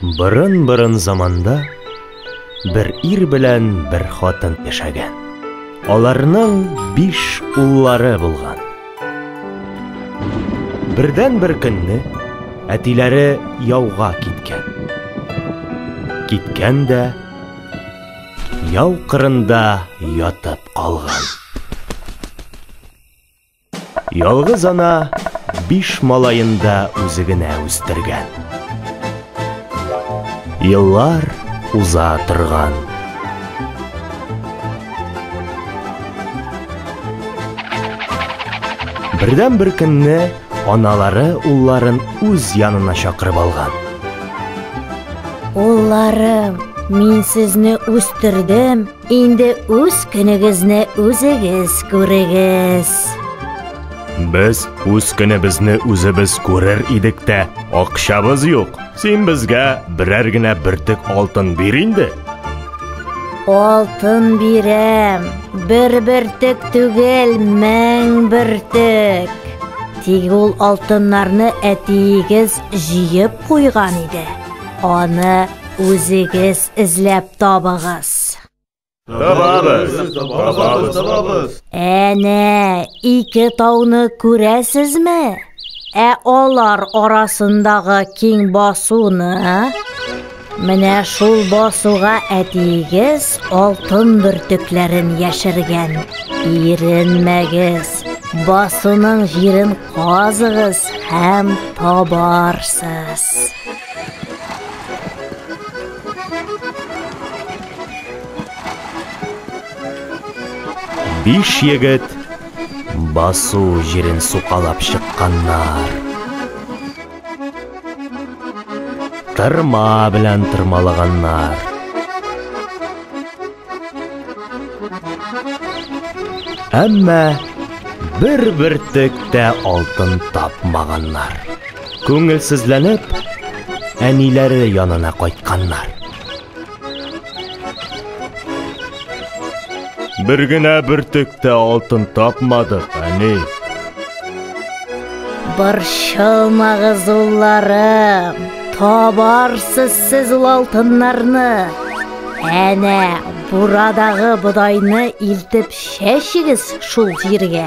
Борын-борын заманда бер ир белән бер хатын яшәгән. Аларның биш уллары булган. Бердән бер көнне әтиләре яуга киткән. Киткән дә яу кырында ятып калган. Ялгыз ана биш малаен да үзе генә үстергән. Еллар уза торган. Бердән бер көнне аналары улларын үз янына чакырып алган. Улларым, мин сезне үстердем, Инде үз көнегезне үзегез күрегез. Без үз көнебезне үзебез күрер идек тә, акчабыз юк. Син безгә берәр генә бөртек алтын бир инде. Алтын бирәм. Бер бөртек түгел, мең бөртек. Тик ул алтыннарны әтиегез җыеп куйган иде. Аны үзегез эзләп табыгыз. Табабыз, табабыз, табабыз. Әнә, ике тауны күрәсезме? Ә алар арасындагы киң басуны? Менә шул басуга әтиегез алтын бөртекләрен яшергән. Иренмәгез, басуның җирен казыгыз һәм табарсыз. Биш егет басу җирен сукалап чыкканнар. Тырма белән тырмалаганнар. Әмма бер бөртек тә алтын тапмаганнар. Күңелсезләнеп, әниләре янына кайтканнар. Бер генә бөртек тә алтын тапмадык, әни. Борчылмагыз, улларым. Табарсыз сез ул алтыннарны. Әнә, бурадагы бодайны илтеп чәчегез шул җиргә.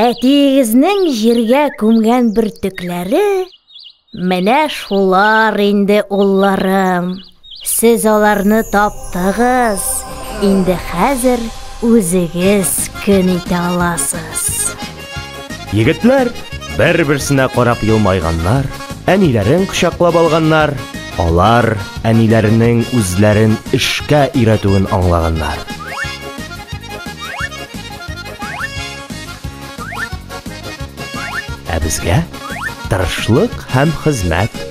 Әтиегезнең җиргә күмгән бөртекләре менә шулар инде, улларым. Сез аларны таптыгыз. Инде хәзер үзегез көн итә аласыз. Егетләр бер-берсенә карап елмайганнар, әниләрен кочаклап алганнар. Алар әниләренең үзләрен эшкә өйрәтүен аңлаганнар. Ә безгә тырышлык һәм хезмәт